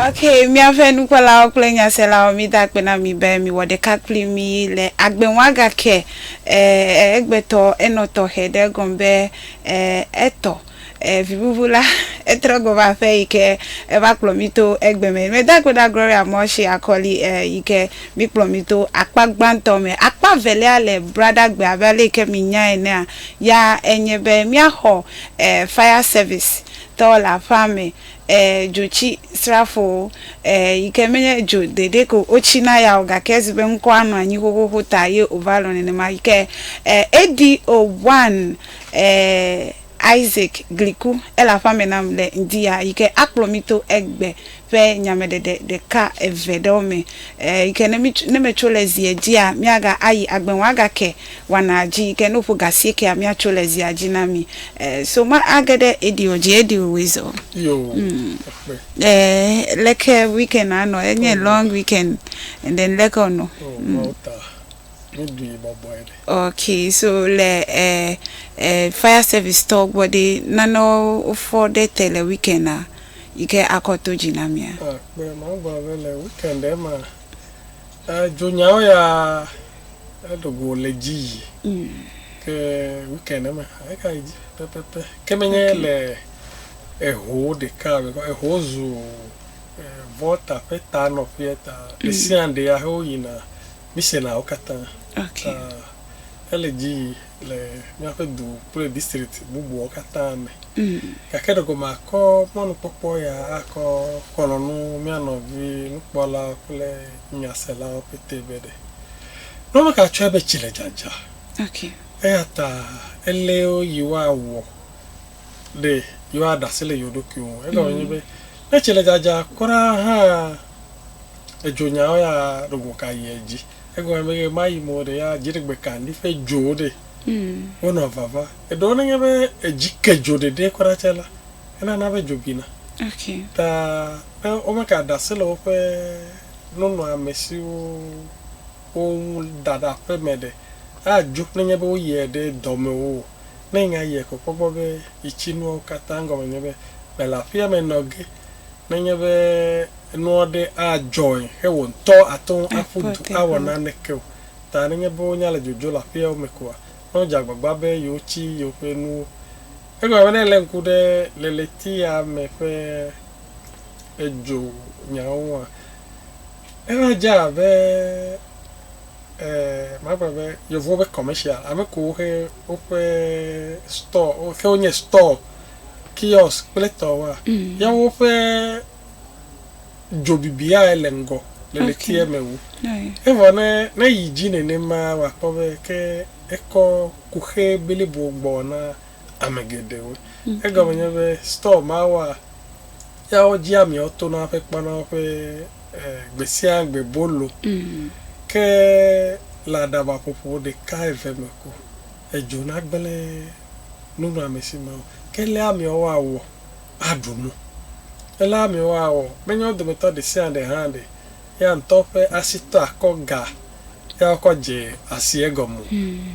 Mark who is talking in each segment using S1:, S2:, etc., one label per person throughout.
S1: Ok, míaƒe nukpɔlawo kple nyaselawo mida akpe na mi be miwɔ ɖeka kpli mi le agbeŋuagake eh, egbetɔ enɔ tɔxɛ ɖe gɔm be eh, etɔ. E vibubu la, etrɔ gbɔ va aƒe yi ke eva kplɔ mí to egbe me. Meda akpe ɖa Gloria Mɔshi Akɔli yi ke mi kplɔ mí to akpa gbãtɔ me. Akpa evelia le Bradagbe abe ale yi ke mi nyae enea, ya enye be mía xɔ e fire service tɔwo le aƒea me, e dzo tsi srafowo e yi ke me nye dzo ɖeɖe ko wo tsi na ya o gake ezi be ŋkɔa nɔ anyi xoxoxo ta ye o va lɔ̃ nenema yi ke e ADO one. Ɛɛ, Isaac gli ku ele aƒea me nam le ŋdiya yi ke akplɔ mí to egbe ƒe nyameɖeɖe ɖeka eve ɖewo me, ɛɛ, yi ke ne mí, ne metso le zia dzia, míaga ayi agbe wɔa gake wanaa dzi yi ke ne woƒo ga asiekea, míatso le zia dzi na mí. Ɛɛ, so ma age ɖe eɖiɔ dzi eɖiɔ woe zɔ. Yo,
S2: ekpe. Ɛɛ,
S1: leke weekend a nɔ? Enye long weekend and then leke wonɔ? Ɔ, Malta. Ok so le ɛ ɛ fire service tɔwo gbɔ ɖi nane wofɔ ɖe te le weekend a yi ke akɔ to dzi na mia. Akpe ma gblɔ
S2: be le weekend ma dzonyawo ya eɖogo le dzi yi mm. ke weekend ma eka yi dzi pɛpɛpɛ ke menye okay. le eho ɖeka eho zu vɔta ƒe ta nɔƒea ta ɖesiaɖe mm. ya he woyina. Missionnaires katã. Okay.
S1: Uh, ele
S2: dzi yi le míaƒe du kple district bubuwo katã me. Mm. Gake ɖe gome akɔ mɔnukpɔkpɔ ya akɔ xɔlɔnu mía nɔvi nukpɔla kple nyaselawo pete be ɖe. Nɔnɔ ka tsɔe be tsi le dzadza. Okay.
S1: Eya ta
S2: ele yewoa wɔ ɖe yewoa ɖase le yewo ɖokuiwo. Egɔme mm. nye be ne tsi le dzadza kura hã edzo nya wo ya ɖo go ka yi edzi egɔme be ɣe ma ɣi me wo ɖe ya dziɖegbe ka ŋdi ƒe dzo wo ɖe wo nɔ vava eɖewo ne nye be edzi ke dzo ɖeɖe kura tse la enana be dzo bina ta
S1: ne
S2: wo me ka ɖase le woƒe nunɔ ame siwo wo ŋu da ɖe aƒe me ɖe a dzo ne nye be wo yie ɖe dɔ me wo o ne yi nya yie ko kpɔ gbɔ be yi tsi nuawo kata gɔme nye be me le aƒea me nɔ ge ne nye be. Enu aɖe adzɔe he wò ŋutɔ àte ŋu aƒu du awɔ naneke o. Ta nenye be wonya le dzodzo le aƒeawo me koa, ne wodze agbagba be yewotsi yewoƒe nuwo. Egblɔ be ne èlé ŋku ɖe leletia me ƒe edzo nyawo ŋua, eva dze abe, e, magblɔ be yevuwo ƒe commercial, ame kewo he woƒe store, ke wonye store, kiosk kple etɔwoa, yawo ƒe. dzo bibiae le ŋgɔ le ɖetia me wu. Evɔ ne ne yi dzi nenema wa kpɔ be ke ekɔ kuxe blibo gbɔ na ame geɖewo. Egɔme nye be store ma wa ya wo dzi ameawo tona hafi kpɔna woƒe gbesiagbe bolo ke le aɖaba ƒoƒo ɖeka eve me ko edzo na gble nunɔamesi mawo. Ke lea ameawo awɔ. aɖu nu. Alea miewɔ awɔ, menye wo dometɔ ɖe sia ɖe hã ɖe ya ŋutɔ ƒe asi tɔ akɔ ga ya wokɔ dze asi egɔme o.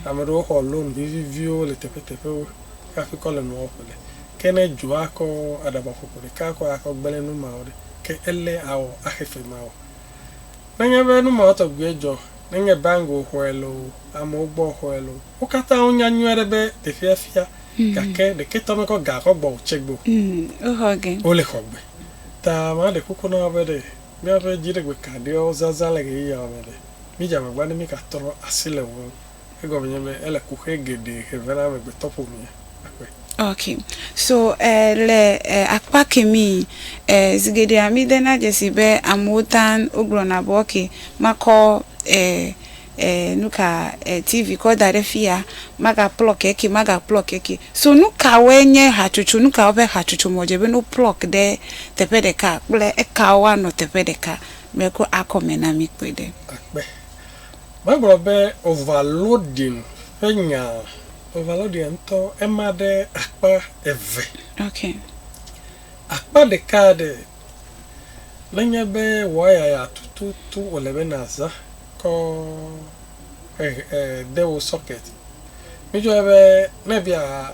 S2: Ame aɖewo xɔ lon viviviwo le teƒeteƒewo hafi kɔ le nuawo ƒle. Ke ne dzo akɔ aɖabaƒoƒo ɖeka kɔ akɔ gblẽ nu mawo ɖe, ke ele awɔ axe fe mawɔ. Nenye be nu mawo tɔgbuie dzɔ, nenye bank wòxɔe loo, amewo gbɔ wòxɔe loo, Wo katã wonya nyuie aɖe be teƒea fia, gake ɖeketɔ mekɔ ga kɔ gbɔ o tse gbe o.
S1: Wole xɔ gbe.
S2: Ta maɖe kuku na wò be ɖe míaƒe dziɖegbe kaɖiɔ zazã le ɣeyiɣiawo me ɖe, mídze agbagba ne mígatrɔ asi le ŋuwò. Egɔme nye be ele ku ƒe geɖe he vɛ na amegbetɔ ƒomea. Akpe. Ok,
S1: so le akpa kemi, zi geɖea mí de na dzesi be amewo taŋ wo gblɔna be ok, makɔ eh nuka eh TV kɔ da ɖe fiya maga plɔk eke maga plɔk eke so nukawoe nye hatsotso nukawo ƒe hatsotso me wòdze be ne wo plɔk ɖe teƒe ɖeka kple ekawo anɔ teƒe ɖeka me ko akɔ me na mi kpɔe ɖe. Akpe.
S2: Magblɔ be overloading ƒe nya overloading ŋutɔ ema ɖe akpa eve. Ok. Akpa ɖeka ɖe. Nenye be waya ya tututu wòle be nàzã kɔ hehe de wò socket. Mídzɔe be ne èbia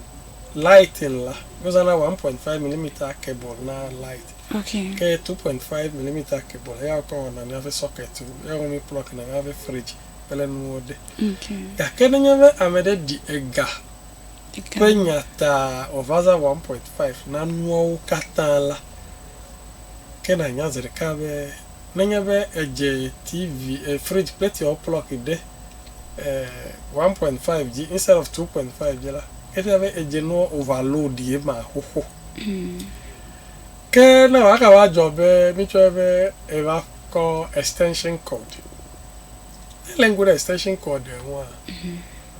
S2: lighting la, wozãna one point five millimeter cable na light. Okay. Ke two
S1: point five
S2: millimeter cable eya wokɔ wɔna míaƒe socket-wo, eya wome mí-plug-na míaƒe fridge kple nuwo ɖe. Okay. Gake
S1: nenye be
S2: ame ɖe ɖi ega ƒe nya ta wòvazã 1.5 na nuawo katã la, ke nànya zi ɖeka be nenye be èdze TV, fridge kple tiawo plug ɖe 1.5 dzi instead of 2.5 dzi la, efia be èdze nua overload ye ma xoxo. Ke ne wòagava va dzɔ be mítsɔe be eva kɔ extension cord, ne èlé ŋku ɖe extension cord ŋua,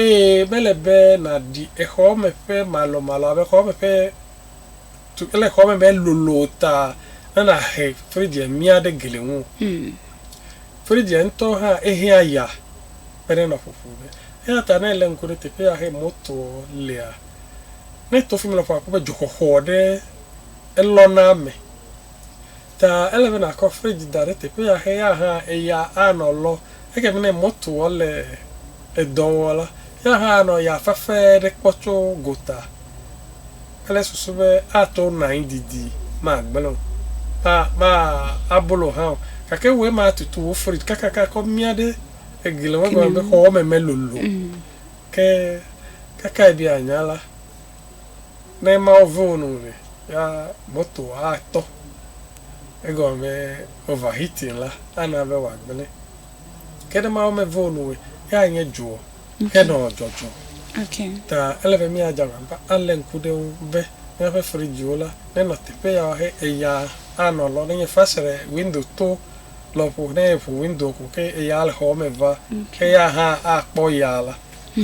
S1: Eye mele
S2: be nàɖi xɔme ƒe malɔmalɔ abe xɔme ƒe tu kple xɔme be lolo o ta ne nàhe fridzia mia ɖe gli ŋu o. Fridzia ŋutɔ hã ehea ya kpena nɔ ƒoƒo me. Eya ta ne èlé ŋku ɖe teƒe ya he motoa lea, ne èto fi mi lɔƒo akpɔ be dzoxɔxɔ ɖe elɔna eme. Ta ele be nàkɔ fridge da ɖe teƒe ya xe ya hã eya anɔ lɔ. Eke be ne mɔtoɔ le edɔ wɔ la, ya hã anɔ ya fafe ɖe kpɔ tso gota kple susu be ato nɔ anyi didi, magblẽ o, ma, ma, abolo hã o. Gake wòe ma tutu wò fridge kakaka kɔ mia ɖe egli ŋgɔ be xɔwɔme melolo. Ke kakae be ànya la, ne Mawu vɔ̃ wo nu ɖe, ya moto atɔ. Egɔme be overheating la ana be wòagblẽ. Ke ne Mawu mevɔ̃ wo nu o, ya anye dzo henɔ dzɔdzɔ. Ta
S1: ele be míadze
S2: agbagba alé ŋku ɖe eŋu be míaƒe fridgewo la nenɔ teƒe ya wɔxɛ, eya anɔ lɔ. Nenye fesre, window to lɔƒo, ne eƒo window ko ke eya le xɔa me va, eya hã akpɔ ya la,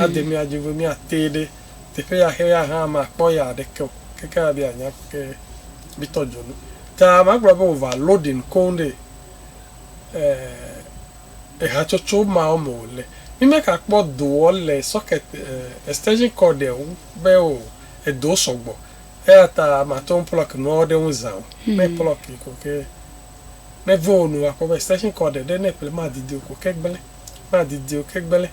S2: ade mía dzi be míatee ɖe teƒe ya xe ya hã makpɔ ya ɖeke o keke abe anya ke bi tɔ dzo nu ta magblɔ be wova loading koŋ ɖe ehatsotso mawo me o le mi me ka kpɔ doɔ le socket extension cord eo be o edo sɔgbɔ eya ta mato plug nuawo ɖe ŋu za o me plug yi ko ke me veo nu akpɔ be extension cord ɖe ne ƒle ma didi o ko ke gble. na didi o, ke gbele,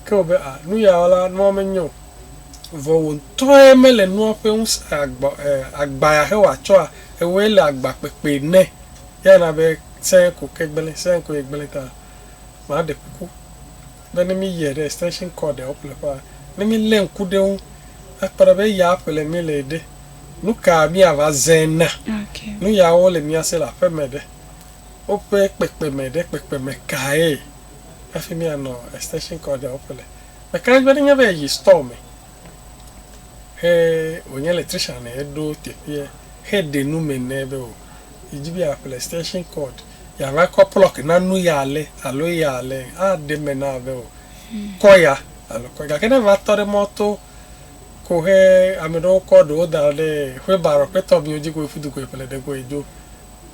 S2: ke wò be, a, nu ya wɔ la, nua menyo o. Vɔ wò ŋutɔe mele nua ƒe ŋusẽ agba, e, agba ya he wòa tsɔa, ewɔe le agba kpekpe ne. Eya na be sɛ̃ ko ke gbele, sɛ̃ koe gbele ta. Ma ɖe kuku be ne mi yɛ ɖe extension cord ɔ ƒleƒea, ne mi le ŋku ɖe eŋu akpɔ ɖa be eya ƒle mi le ɖe, nuka mia va zẽ na? Nu ya
S1: wo le mia
S2: se le aƒeme ɖe? Woƒe kpekpeme ɖe kpekpeme kae hafi míanɔ extension cord aɖewo ƒe le? Meka ɖe edzi be nenye be èyi store me he wònye electrician ye ɖo teƒeɛ heɖe nu me nɛ be o, yidi be yeaƒle extension cord, yeava kɔ plɔk na nu ya ale alo eya ale, aɖe eme na wò be o, kɔ ya alo kɔ ya. Gake ne èva tɔ ɖe mɔto ko he ame ɖewo kɔ ɖewo da ɖe wheelbarrow ƒe tɔmiwo dzi ko ƒle ɖe koe dzo.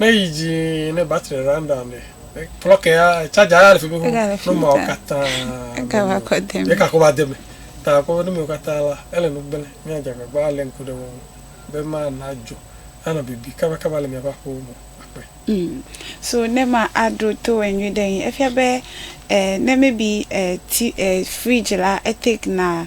S2: Ne yi dzi ne battery run down ɖe. Plug ya charger ya le fi mi ko. No ma o katã. Ega va kɔ
S1: de mi. Eka ko va de mi.
S2: Ta ko ne mi o katã la ele no gbele. Mi a jaga gba le nku de wo. Be ma na jo. Ana bibi kaba kaba le mi aba ko mo. Akpe. Mm.
S1: So ne ma a do to we nyu de yin. Efia be eh, ne maybe eh, ti, eh, fridge la e take na.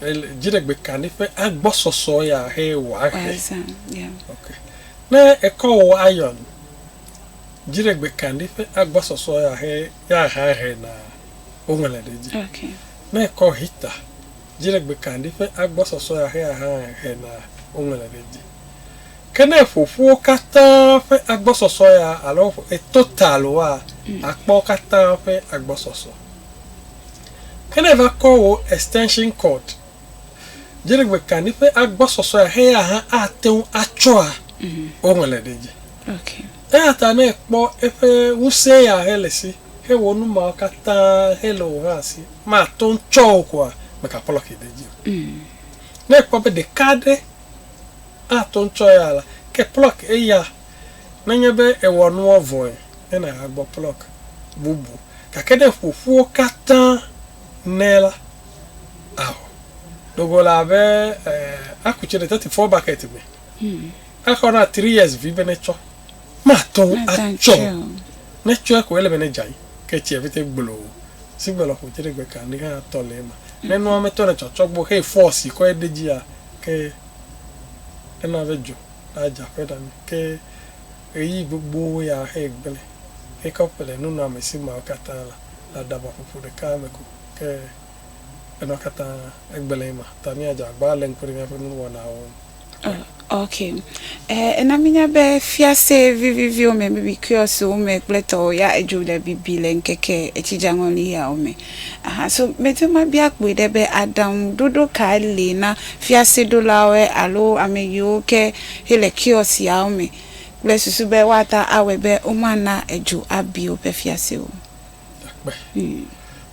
S2: Ele dziɖegbe ka nɛ ƒe agbɔsɔsɔ ya he wòahe. Wòazã, ya. Ok. Ne ekɔ wò iron, dziɖegbe ka nɛ ƒe agbɔsɔsɔ ya he ya hã he na woŋlɔe ɖe edzi. Ok. Ne ekɔ
S1: heater,
S2: dziɖegbe ka nɛ ƒe agbɔsɔsɔ ya he ya hã he na woŋlɔe ɖe edzi. Ke ne eƒo ƒu wo katã ƒe agbɔsɔsɔ ya alo eƒo, etotal wa, akpɔ wo katã ƒe agbɔsɔsɔ. Ke ne èva kɔ wò extension cord, dziɖegbekaɖi ƒe agbɔsɔsɔea heya hã ate ŋu atsɔa, woŋlɔe ɖe edzi.
S1: Eya ta ne èkpɔ
S2: eƒe ŋusẽ ya hele si hewɔ nu mawo katã hele wò hã si màte ŋu tsɔ o koa, mègaplɔki ɖe edzi o. Ne èkpɔ be ɖeka aɖe ate ŋu tsɔ eya la, ke plɔk eya. Nenye be èwɔ nua vɔe hena hagbɔ plɔk bubu, gake ne ƒoƒuwo katã nɛ la, ao. Ɖo go la be aku tsi ɖe thirty four bucket me. Axɔ na three years vi be netsɔ. Mate ŋu atsɔ o. Ne etsɔe ko ele be nedze anyi, ke tsia vete gbloo. Sigbe lɔƒo dziɖegbekaɖi hã tɔ le eme. Ne nua me tɔ le tsɔtsɔgbo xee force kɔe ɖe edzia, ke ena be dzo. ɖa dze aƒeɖa me, ke ɣeyiɣi gbogbo ya ahae gblẽ. Xexewo ƒe le nunɔamesi mawo katã la le aɖabaƒoƒo ɖeka me ko, ke enua katã egblẽ ema ta míadze agbagba alé ŋku ɖe míaƒe nuwɔnawo ŋu. Oh, ok.
S1: E, ena míenya be fiase viviviwo me, baby kiɔsiwo me kple etɔwo ya edzo le bibi le ŋkeke etsidzeaŋɔli yawo me. Aha, so medi mabia kpoe ɖe be aɖaŋuɖoɖo kae li na fiaseɖolawoe alo ame yiwo ke he le kiosk yawo me kple susu be woata awɔe be womana edzo abi woƒe fiase o? Akpe.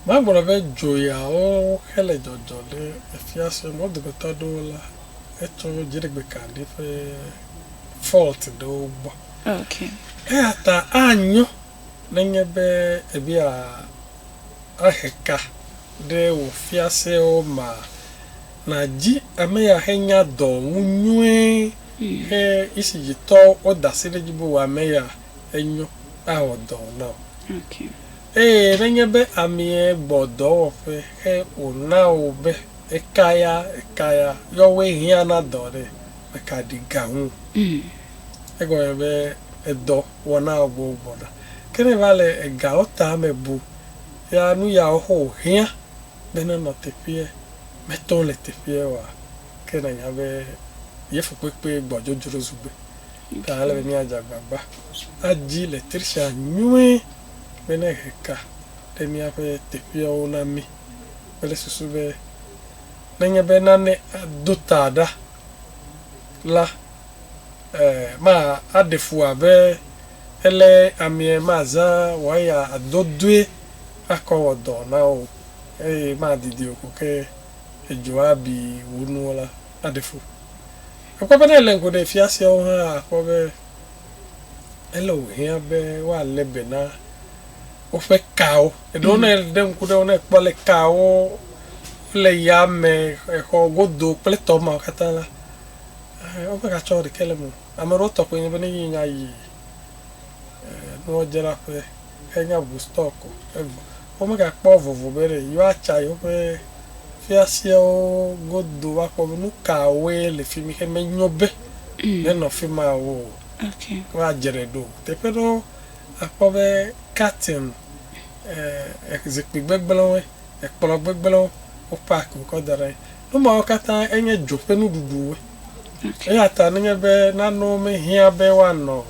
S2: Magblɔ be dzo yawo he le dzɔdzɔ ɖe efiase me. Wo dometɔ aɖewo la, etso dziɖegbekaɖi ƒe fault ɖewo gbɔ. Okay.
S1: Eyata
S2: anyo Nenye be èbia ahe ka ɖe wò fiasewo mea, nàdi ame ya henya dɔ ŋu nyuie he Isijitɔwo woda asi ɖe edzi be wò ame ya enyo awɔ dɔ na wò.
S1: Eye nenye
S2: be amee gbɔ dɔwɔƒe he wòna wò be ekaya ekaya yɔwoe hiã na dɔ ɖe, mèkaɖi ga ŋu o. Egɔme be edɔ. wɔna gbɔwo gbɔna. Ke ne va le egawo ta me bu ya nu ya wɔxɔ wòhiã be nenɔ teƒeɛ, meto le teƒeɛ oa, ke nànya be ye fukpekpee gbɔ dzodzro zu gbe. Ta ele be míadze agbagba adi le trsia nyuie be ne he ka ɖe míaƒe teƒeɛwo na mí kple susu be nenye be nane ado ta ɖa la, e ma a ɖe fu a be e le amie ma zã wɔ ya a do doe a kɔ wɔ dɔ na wo eye ma a didi o ko ke e dzo a bi wo nuwo la a ɖe fu. E kpɔ be ne e le ŋku ɖe fiasea wo hã a kpɔ be e le wo hiã be wo a le be na woƒe kawo. Eɖewo ne e ɖe ŋku ɖe wo ne e kpɔ le ka wo le yame, exɔ godo kple tɔ ma wo katã la Ɛɛ, woƒe ga tsɔ ɖekɛ le mo. Ame ɖewo tɔ kpoe nye be ne yi nya yi nuwɔdzraƒe henya ʋu stock o. Evɔ wome ga kpɔ vovo be ɖe yewoa tsa yewoƒe fiaseawo godo va kpɔ be nukawoe le fimi xe me nyo be ne nɔ fima o. Woa
S1: dzre ɖo.
S2: Teƒe ɖewo a kpɔ be curtain, ɛɛ, zikpui gbegblẽwoe, ekplɔ gbegblẽwo wo pack wo kɔ da ɖe anyi. Nu mawo katã enye dzo ƒe nuɖuɖuwo. Eya ta nenye be nanewo mehiã be woanɔ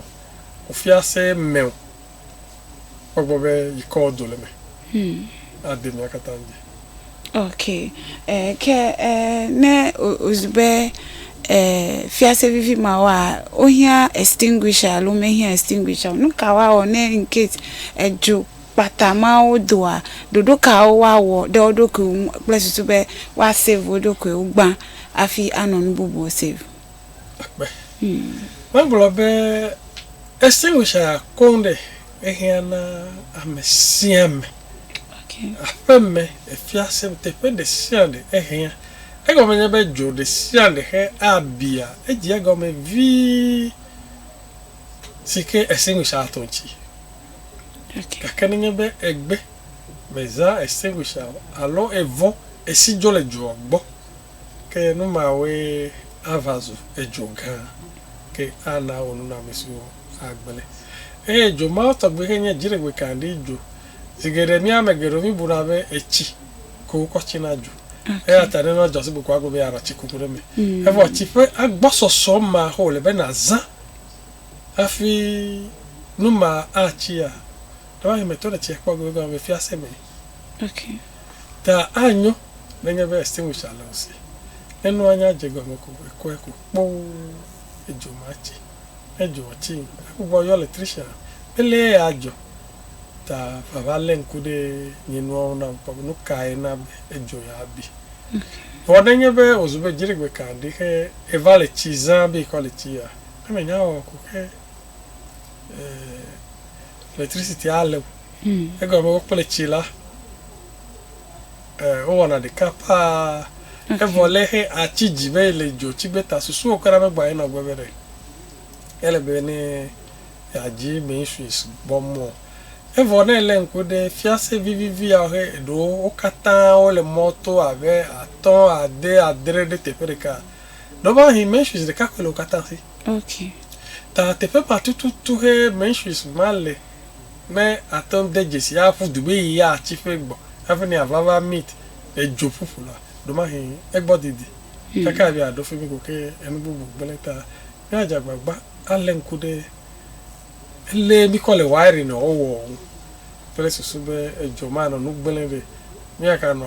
S2: kufiase me o, kpɔgbɔ be yi kɔɔ do le eme ade mía katã dzi. Ok,
S1: ke ne wòzu be fiase vivi mawoa, wohiã extinguisher alo womehiã extinguisher o, nu ka woawɔ ne incase edzo Kpata mawo doa ɖoɖo kawo woawɔ ɖe wo ɖokuiwo ŋu kple susu be woasave wo ɖokuiwo gbã hafi anɔ nu bubuwo save? Akpe.
S2: Megblɔ be extinguisher koŋ ɖe ehiã na ame sia ame.
S1: Aƒeme,
S2: fiase, teƒe ɖe sia ɖe ehiã. Egɔme nye be dzo ɖe sia ɖe xe abia edzi egɔme vii si ke extinguisher ato ŋuti. Gake nenye be egbe, meza, extinguish, alo evɔ, esi dzo le dzoa gbɔ, ke nu mawoe ava zu edzo gã, ke ana wò nunɔamesiwo agblẽ. Eye dzo mawo tɔgbi ke nye dziɖegbe kaɖi dzo. Zi geɖe mía ame geɖewo míbuna be etsi ko wokɔ tsina dzo. Eya ta ne nua dzɔ sigbe ko agblɔ be yeaɖa tsikuku ɖe eme. Evɔ tsi ƒe agbɔsɔsɔ ma ko wòle be nàzã. Hafi nu ma atsia, ɖewohĩ metɔ ɖe tsia kpɔ gbegbe gɔme be fiase me.
S1: Ta
S2: anyo nenye be extinguisher le o si. Ne nua nya dze gɔme ko, ekɔe ku kpoo, edzo matsi. Ne dzoa tsim, egbugbɔ ayɔ electrician be le ye adzɔ. Ta vava lé ŋku ɖe nye nuawo ŋu nam kpɔ be nu kae na be edzo ya bi. Vɔ nenye be wòzu be dziɖegbe ka ɖi xe eva le tsi zã be yikɔ le tsi ya, Eme nya wɔ ko ke electricity a le egɔ me wo kple tsi la wo wɔna ɖeka paa evɔ le xe a tsi dzi be le dzo tsi gbe ta susu wo kɔna be gba yi nɔ gbe be ɖe ele be ne ya dzi me yi suis bɔ mɔ evɔ ne le ŋku ɖe fiase vivivi ya xe eɖo wo katã wo le mɔ to a be atɔ a de a dre ɖe teƒe ɖeka. Ɖewoahi menstrues ɖeka koe le wo katã si. Okay.
S1: Ta teƒe
S2: ma tututu he menstrues ma le ne ate ŋu de dzesi aƒu du be yia atsi ƒe gbɔ hafi ne ava va meet edzo ƒuƒu la, ɖewoahi egbɔ didi kaka hafi aɖo fimi ko ke enu bubu gblẽ ta. Míadze agbagba alé ŋku ɖe. Ele mikɔ le wairi nɔ owɔ wu kple susu be edzɔ ma nɔ nugblẽ be miaka nɔ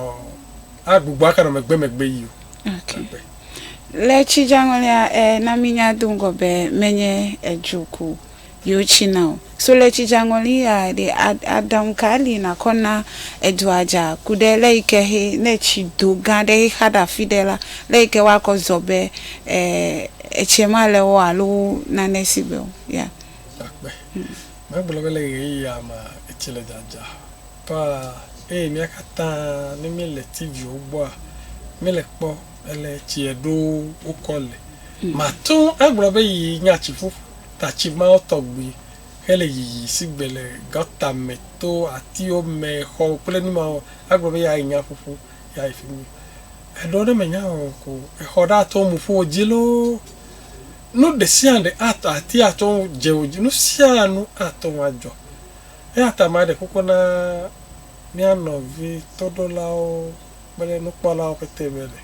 S2: a gbogbo aka nɔ megbe megbe yi o. Ok. Megbe.
S1: Le tsi dzaŋɔlia e na mi nya do ŋgɔ be menye edzo ko yo tsi na o. So le tsi dzaŋɔli ya ɖe a aɖaŋu ka li na kɔ na edzo a dza ku ɖe le yi ke xe ne tsi do gã ɖe xe xa ɖe afi ɖe la le yi ke wa kɔ zɔ be e. Etsie ma le wo alo nane si gbe o. Ya. Akpe.
S2: Megblɔ be le ɣeyiɣia mea, etsi le dzadza paa eye mía katã ne míele TV-wo gbɔa, míele kpɔ ale tsie ɖo wokɔ le. Mate ŋu agblɔ be yi nya tsiƒu tatsi mawo tɔgbi hele yiyi si gbe le gɔta me, to, atiwo me, xɔwo kple numawo, agblɔ be ya yi nya ƒuƒu, ya yi fi mi. Eɖewo ɖe menya o ko exɔ ɖe atɔ mu ƒo dzi loo. Nu ɖe sia ɖe atɔ ati atɔ ŋu dze wo dzi. Nu sia nu atɔ ŋu adzɔ. Eya ta maɖe kuku na mía nɔvi toɖolawo kple nukpɔlawo pɛtɛ be ɖe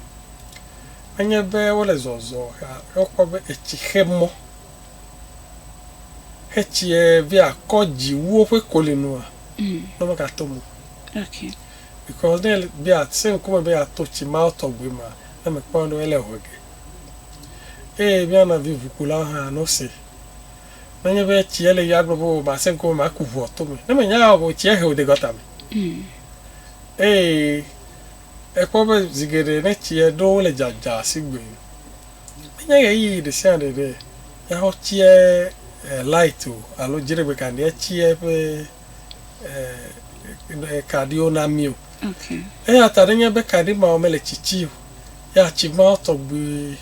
S2: menye be wole zɔzɔ hea ye wokpɔ be etsi xe mɔ hetsiɛ be akɔ dzi wu woƒe kolinua ne womegatɔ mu o.
S1: Because ne
S2: be àsẽ ŋkume be yeato tsi mawo tɔgbi mea, ne mèkpɔna ɖo ele hwe ge. Eye mía nɔvi ʋukulawo hã no se. Ne enye be tsi ele yim agblɔ be o masẽ ŋkume maku ʋua to me. Ne mènya eya o ko tsia he wò de gɔta me. Eye èkpɔ be zi geɖe ne tsia ɖo wole dzadza sigbe menye ɣeyiɣi ɖe sia ɖe ɖe yeaxɔ tsia light o alo dziɖegbekaɖiɛ tsia ƒe. eh, kaɖiwo na mí o. Okay. Eya ta nenye be kaɖi mawo mele tsitsi o, ya tsi mawo tɔgbi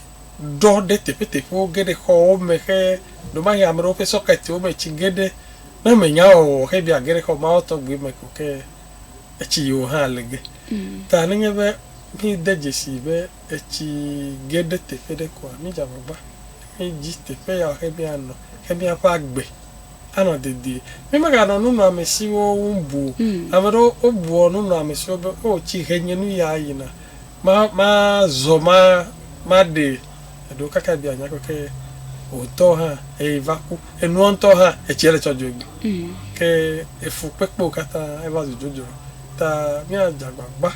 S2: ɖɔ ɖe teƒeteƒewo ge ɖe xɔwo me xe ɖomahi ame ɖewo ƒe sɔketiwo me tsi ge ɖe ne menya wɔwɔ xe bia ge ɖe xɔ mawo tɔgbi me ko ke etsi yiwo hã le ge. Mm. Ta nenye be mí de dzesi be etsi ge ɖe teƒe ɖe koa, mí dze agbagba mí dzi teƒe ya xe mía nɔ xe míaƒe agbe. anɔ dedie. Mi meganɔ nunɔamesiwo wum bu o. Ame ɖewo wobuɔ nunɔamesiwo be, O, tsi he nye nu ya yina. Ma, ma zɔ ma, ma ɖe. Eɖewo kaka biɔ anya keke wò ŋutɔ hã eyi va ku. Enuɔ ŋutɔ hã etsia le tsɔ dzoe gbi. Ke efu kpekpewo katã eva zu dzodzro. Ta mía dze agbagba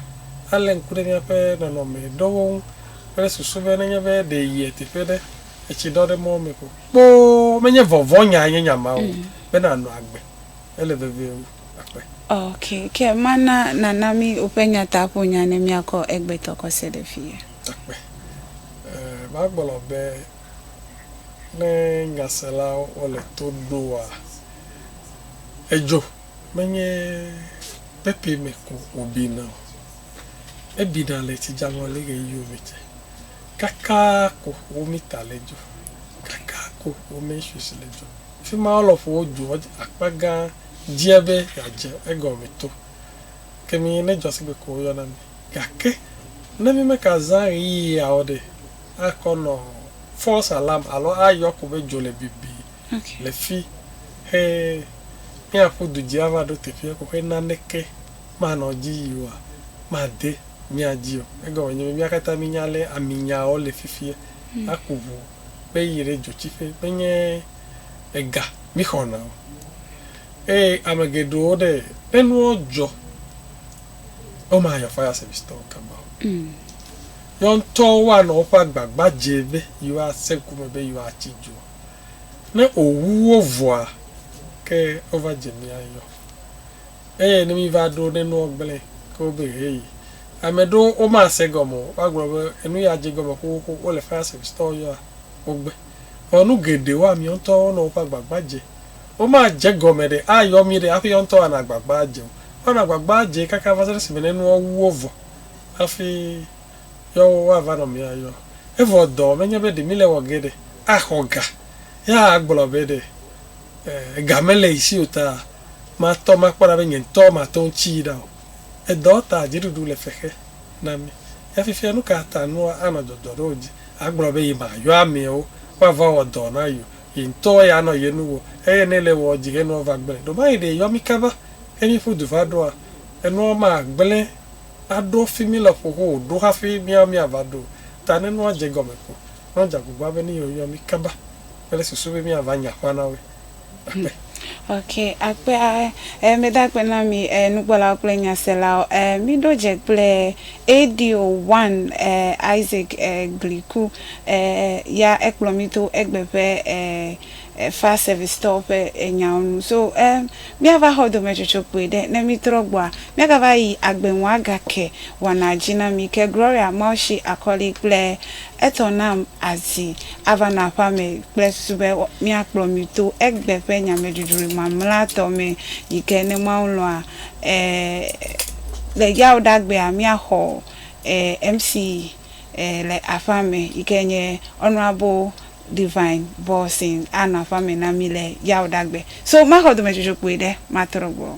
S2: alé ŋku ɖe míaƒe nɔnɔme ɖewo ŋu kple susu be nenye be ɖe yie teƒe ɖe. etsi ɖɔ ɖe mɔwo me ko kpoo. Menye vɔvɔ̃nyae nye nya ma o, mm. be nànɔ agbe. Ele vevie wu akpe. Ok, ke
S1: mana nana mí woƒe nyataƒonya ne míakɔ egbetɔ kɔ se ɖe fi ye. Akpe.
S2: Eh, magblɔ be ne nyaselawo wole to ɖoa, edzo menye pepe me ko wòbina o. Ebina le tsidzaŋɔli ɣeyiɣiwo me tse. Kaka ko womi ta le dzo. Kaka ko womi swiss le dzo. Fima lɔƒo wo dzo akpa gã dzia be yeadze egɔme to. Ke mi ne dzɔ sigbe ko woyɔ na mi. Gake ne mi me ka zã ɣeyiɣia o ɖe, akɔ nɔ false alarm alo ayɔ ko be dzo le bibi le fi he miaƒu du dzi ava ɖo teƒea ko he naneke. manɔ dzi yi oa, made mia dzi o. Egɔme nye be mía katã mínya ale aminyawo le fifia. Aku ŋu be yi ɖe dzotsiƒe menye ega míxɔna o. Eye ame geɖewo ɖe, ne nuwo dzɔ, womayɔ fire service tɔwo kaba o. Yewo ŋutɔwo woanɔ woƒe agbagba dzem be yewoase ŋku me be yewoatsi dzoa. Ne owuwo vɔa, ke wova dze mía yɔ. Eye ne míva ɖo ne nuwo gblẽ ke wobe hee, ame ɖewo womase egɔme o, woagblɔ be, Enu ya dze egɔme xoxoxo, wole Farisitɔwo yɔa wo gbe. Vɔ nu geɖewo amiwo ŋutɔ wonɔ woƒe agbagba dze. Womadze egɔme ɖe ayɔ mí ɖe hafi yewo ŋutɔ woanɔ agbagba adze o. Woanɔ agbagba adze kaka va se ɖe esime ne nuwo wu wo vɔ hafi yewo woava nɔ mía yɔ. Evɔ dɔ menye be ɖe míle wɔ ge ɖe axɔ ga ya agblɔ be ɖe. ega mele yi si o ta, matɔ makpɔ ɖa be nye ŋutɔ mate ŋu tsii ɖa o. Edɔ ta dziɖuɖu le xexe na mí. Ya fifia nu ka ta nua anɔ dɔdɔ ɖe wò dzi agblɔ be yemayɔ amewo woava wɔ dɔ na yewo, ye ŋutɔ ya anɔ ye nu wɔm eye ne le ewɔm dzi enuawo va gblẽ? Ɖe mayi ɖe yɔ mí kaba eye míeƒu du va ɖoa? Enuawo magblẽ aɖo fi mí le ƒoƒo o ɖo hafi míawo míava ɖo o. Ta ne nua dze egɔme ko, nɔ dze agbagba be ne yewɔ mí kaba. kple susu be míava nya ƒã na woe.
S1: Akpe. Ok, akpe e medo akpe na mi e nukpɔlawo kple nyaselawo e miɖo dze kple ADO one e Isaac e Gliku e ya ekplɔ mi to egbe ƒe e e fire service tɔwo ƒe e nyawo nu so e míava xɔ dometsotso kpui ɖe ne mi trɔ gbɔa míagava yi agbe ŋu agake wɔna dzi na mi ke Gloria Mawshi Akɔli kple Etɔ nam azi ava nɔ aƒea me kple susu be míakplɔ mi to egbe ƒe nyameɖuɖu mamlɛatɔ me yi ke, ne Mawu lɔ̃a, le yawuɖagbea míaxɔ MC le aƒea me yi ke nye Honourable Divine Bawson anɔ aƒea me na mí le yawuɖagbe. So maxɔ dɔmedzodzokpui ɖe matrɔ gbɔ.